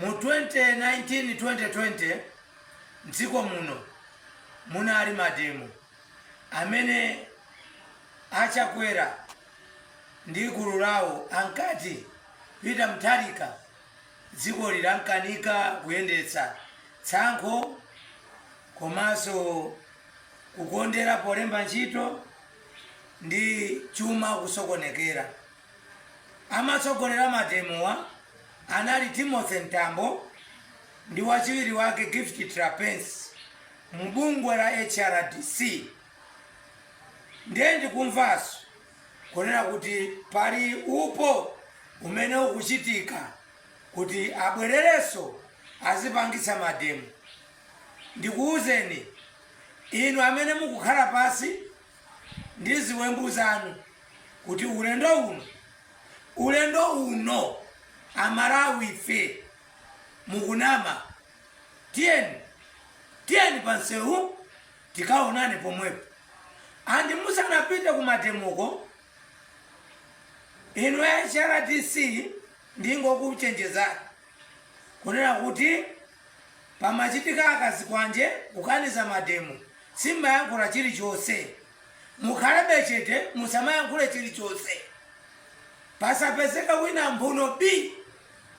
Mu 2019 2020 mdziko muno munali mademo amene a Chakwera ndi gulu lawo ankati Peter Mutharika dziko lilamkanika kuyendetsa, tsankho komanso kukondera polemba ntchito ndi chuma kusokonekera. Amatsogolera mademowa anali Timothy Mtambo ndi wachiwiri wake Gift Trapence mbungwe la HRDC ndiye ndikumvaso kunena kuti pali upo umene ukuchitika kuti abwerereso azipangitsa mademo. Ndikuuzeni inu amene mukukhala pasi ndi ziwembu zanu kuti ulendo uno ulendo uno amalawife mukunama tiyeni tiyeni pansewu tikaonane pomwepo andi musanapite kumademoko inu hrdc ndingokuchenjezani kunena kuti Pamachitika a zikwanje kukaniza mademo simmayankhula chilichonse. Mukhalebe chete musamayankhule chilichonse. Pasapezeka wina mphuno bii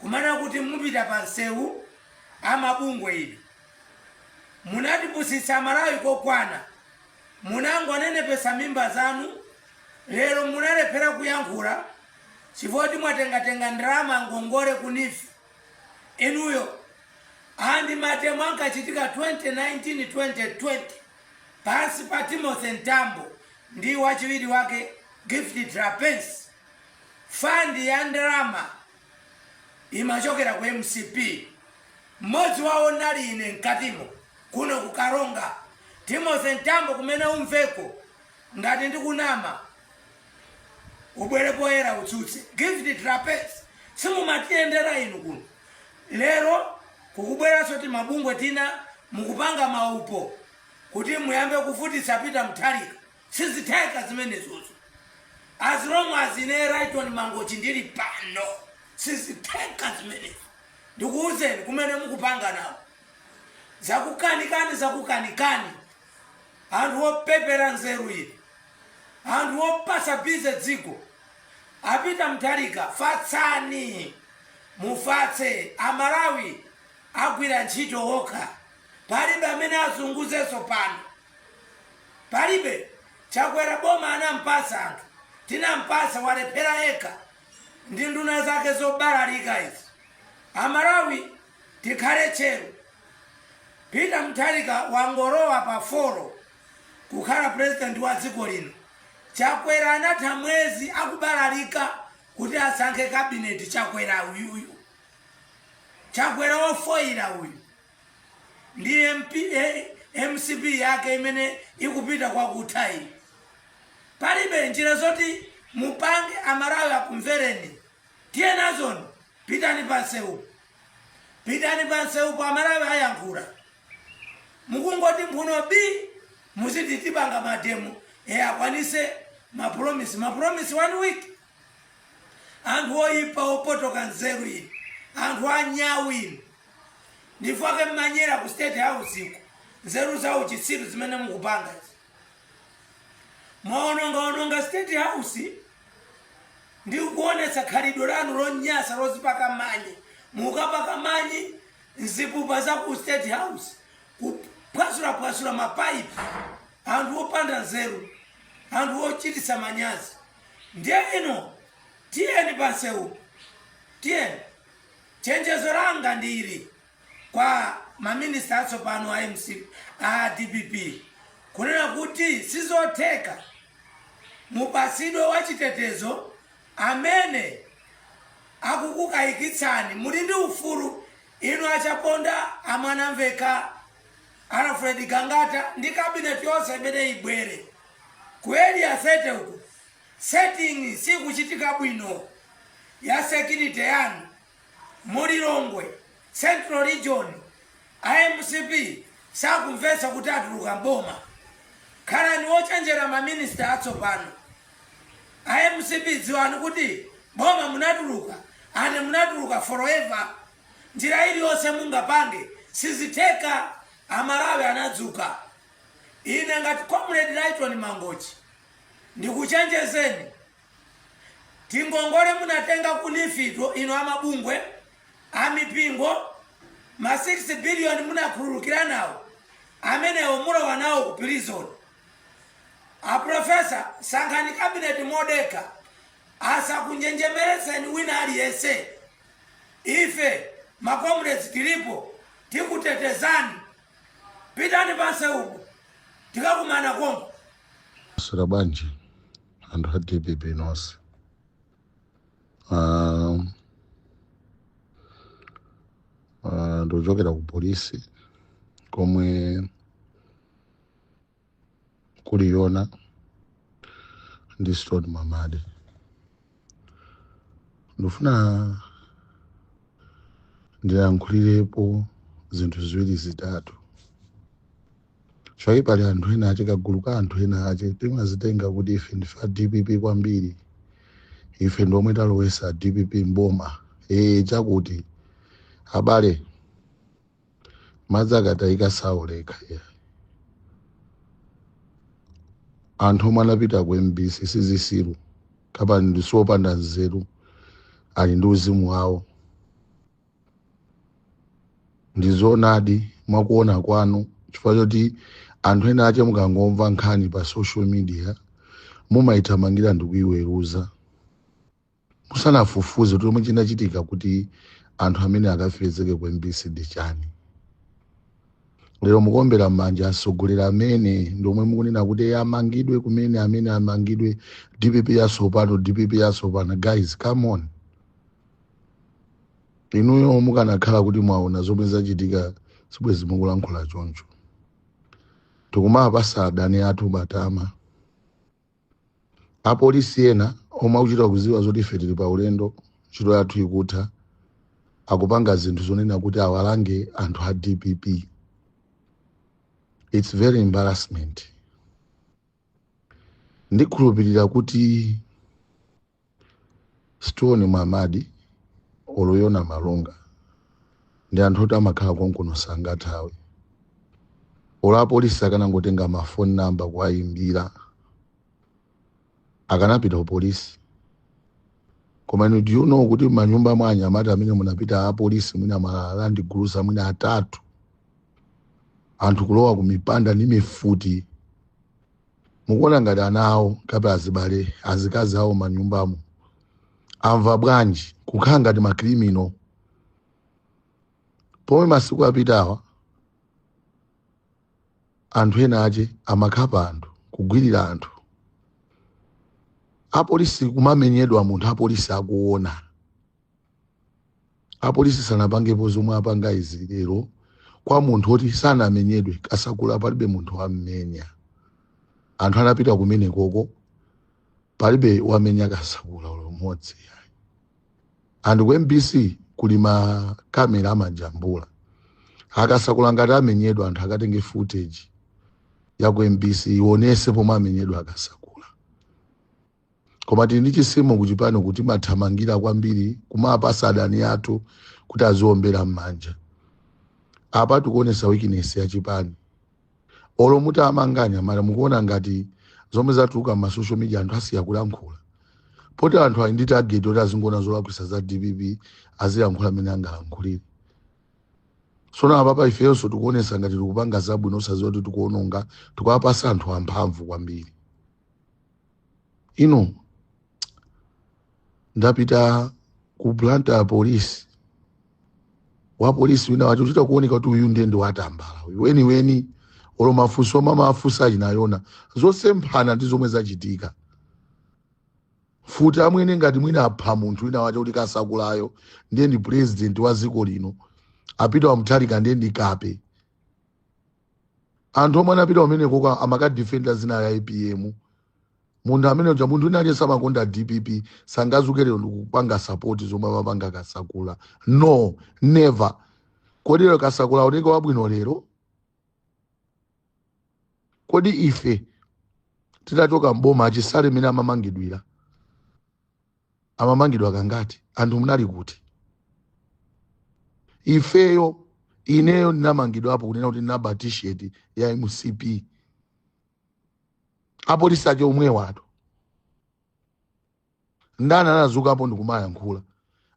kumanena kuti mupita pa nseu a mabungwe inu. Munatipusitsa amalawi kokwana. Munangonenepetsa mimba zanu lero munalephera kuyankhula chifukwa choti mwatengatenga ndalama ngongole ku neef. inuyo and mademo ankachitika 2019 2020 pansi pa timothy mtambo ndi wachiwiri wake gift trapence fandi ya ndalama imachokera ku mcp mmodzi wawo ndinali ine mkatimo kuno ku karonga timothy mtambo kumene umveko Ngati ndikunama ubwere poyera utsutse. Gift Trapence simumatiyendera inu kuno. Lero kukubweraso timabungwe tina mukupanga maupo kuti muyambe kuvutitsa Peter Mutharika. Sizitheka zimenezozo. As long as ine Rayton Mangochi ndili pano sizitheka zimenezo. Ndikuuzeni kumene mukupanganako. Zakukanikani zakukanikani. anthu opepera nzeru inu anthu opasa busy dziko a Peter Mutharika fatsani mufatse amalawi agwira ntchito okha palibe amene azunguzenso pano palibe chakwera boma anampasa anthu tinampasa walephera yekha ndi nduna zake zobalalika izi amalawi Tikhale tcheru. Peter Mutharika wangolowa pa foro kukhala president wa dziko lino. Chakwera anatha mwezi akubalalika kuti asankhe cabinet Chakwera uyuyu. Chakwera wofoira uyu. Ndi MP, eh, mcp yake imene ikupita kwa kutha iyi. Palibe njira zoti mupange amalawi akumvereni. Tiyenazoni pitani pansewupo. Pitani pansewupo amalawi ayankhula. Mukungoti mphuno bii muziti tipanga mademo e akwanise ma promise. Ma promise one week. Anthu oyipa opotoka nzeru inu. Anthu anyawu inu. Ndifake munanyera ku state house iko. Nzeru za uchitsiru zimene mukupanga. izi. mwaonongaononga state house ndikuonetsa khalidwe lanu lonyasa lozipaka manyi mukapaka manyi mzipupa za ku state house kuphwasulaphwasula mapaipi anthu opanda nzeru anthu ochititsa manyazi ndiye ino tiyeni pansewu tiyeni chenjezo langa ndili kwa ma minister atsopano a dpp kunena kuti sizotheka mupatsidwe wachitetezo amene akukukayikitsani muli ndi ufulu inu a chaponda a mwanamvekha alfred gangata ndi kabineti yonse imene ibwere ku area 30 uku vetting sikuchitika bwino ya security yanu Mu Lilongwe central region a mcp sakumvetsa kuti atuluka m'boma. Khalani ochenjera ma minister atsopano. A mcp dziwani kuti boma munatuluka and munatuluka for ever. Njira iliyonse mungapange sizitheka. Amalawi anadzuka. Ine ngati comrade Lyton Mangochi ndikuchenjezeni. tingongole munatenga ku NEEF'tu inu amabungwe amipingo ma 6 billion munakhululukira nawo amenewo mulowa nawo ku prison a Professor sankhani kabineti modekha asakunjenjemeretseni wina aliyense ife makomredzi tilipo tikutetezani pitani panse uku tikakumana konko Sura Banji. anthu a dpp nonse Ah, ah, ndikuchokera ku polisi komwe kuli Yona ndi Stone Mwamadi ndifuna ndilankhulirepo zinthu ziwiri zitatu Choipa pali anthu ena ache kagulu ka anthu ena ache timazitenga kuti ife ndife a dpp kwambiri ife ndi omwe talowesa dpp mboma ee chakuti abale madzi akatayika saoleka yeah. anthu omwe anapita ku mbc sizisiru kapena ndi siopanda nzeru ali ndi uzimu wawo ndi zoonadi mwakuona kwanu chifukwa choti anthu ena ache mukangomva nkhani pa social media mumayithamangira ndi kuyiweruza musanafufuze kuti chomwe chinachitika kuti anthu amene akapezeke ku mbc ndi chani lero mukuombera m'manja atsogoleri amene ndiomwe mukunena kuti amangidwe kumene amene amangidwe dpp yatsopano dpp yatsopano guys come on inuyo mukanakhala kuti mwaona zomwe zachitika sibwezi mukulankhula choncho tikumawapasa adani athu matama apolisi ena omwe akuchita kuziwa zoti ife tili pa ulendo ntchito yathu ikutha akupanga zinthu zonena kuti awalange anthu a dpp it's very embarrassment ndikhulupirira kuti Stone Mwamadi olo Yona Malunga ndi anthu oti amakhala konkuno sangathawe olo apolisi akanangotenga mafoni namba kuwayimbira akanapita ku polisi koma inu do you know kuti manyumba mwa anyamata amene munapita apolisi mwina ma Land Cruiser mwina atatu anthu kulowa kumipanda ndi mifuti mukuona ngati ana awo kapena azibale azikazi awo manyumbamo amva bwanji kukhala ngati makriminal pomwe masiku apitawa anthu ena ache amakhapa anthu kugwirira anthu apolisi kumamenyedwa munthu apolisi akuona apolisi sanapangepo zomwe apanga izi lero kwa munthu oti sanamenyedwe kasakula palibe munthu wammenya anthu anapita kumene kuja palibe wamenya kasakula olo mmodzi ayi. and ku mbc kuli makamera amajambula akasakula ngati amenyedwa anthu akatenge footage ya ku mbc ionese pomwe amenyedwa akasakula koma tili ndi chisimo kuchipani kuti timathamangira kwambiri kumapasa adani athu kuti aziombera m'manja apa tikuonesa weakness ya chipani olo muti amanganya mara mukuona ngati zomwe zatuluka ma social media anthu asiya kulankhula poti anthu ali ndi target oti azingowona zolakwisa za dpp azilankhula amene angalankhulire sono apapa ifeyonso tikuonesa ngati tikupanga zabwino osaziwa kuti tikuononga tikuwapasa anthu amphamvu kwambiri ino ndapita ku blantyre police wa polisi wina wacho chita kuoneka kuti uyu ndiye ndi watambala uyu weniweni olo mafunso omwe amafunsa achinayona zosemphana ndi zomwe zachitika ati amwene ngati mwina apha munthu wina wacho kuti kasakulayo ndiye ndi president wa dziko lino a peter wa mutharika ndiye ndi kape anthu omwe anapita kumenekoko amakadifenda zina la apm munthu amene uja munthu wina aliyense amakonda dpp sangazuke lero ndikupanga sapoti zomwe amapanga kasakula no never kodi lero kasakula aoneke wabwino lero kodi ife titachoka mboma achisale mmene amamangidwira amamangidwa kangati anthu munali kuti ifeyo ineyo ndinamangidwapo kunena kuti ndinaba t-shirt ya mcp apolisi ake omwewatu ndani anazukapo ndikumayankhula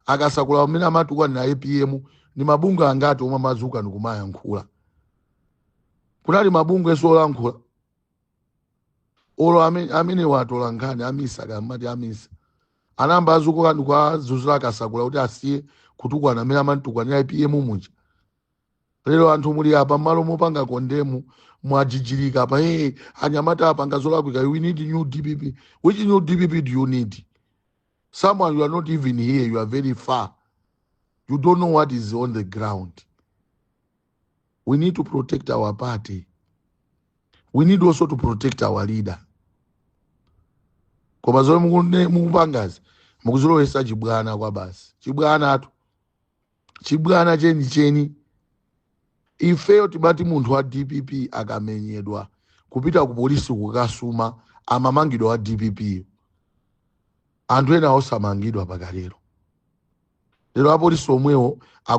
akasakula mmene amatukwanira apm ndi mabungwe angati omwe amazuka ndikumayankhula kunali mabungwe enso olankhula olo ame- amene watola nkhani a misa kapena a misa anayamba azuka ndikuwazuzula akasakula kuti asiye kutukwana mmene amamutukwanira apm muja lero anthu muli apa mmalo mopanga condemn mwajijirika apa hey, anyamata apanga zolakwika we need new dpp which new dpp do you need someone you are not even here you are very far you don't know what is on the ground we need to protect our party we need also to protect our leader koma zomwe mukune- mukupangazi mukuzilowesa chibwana kwabasi chibwanatu chibwana chenicheni ifeyo timati munthu wa dpp akamenyedwa kupita ku polisi kukasuma amamangidwa wa dppyo anthu ena osamangidwa pakali lero lero apolisi omwewo aku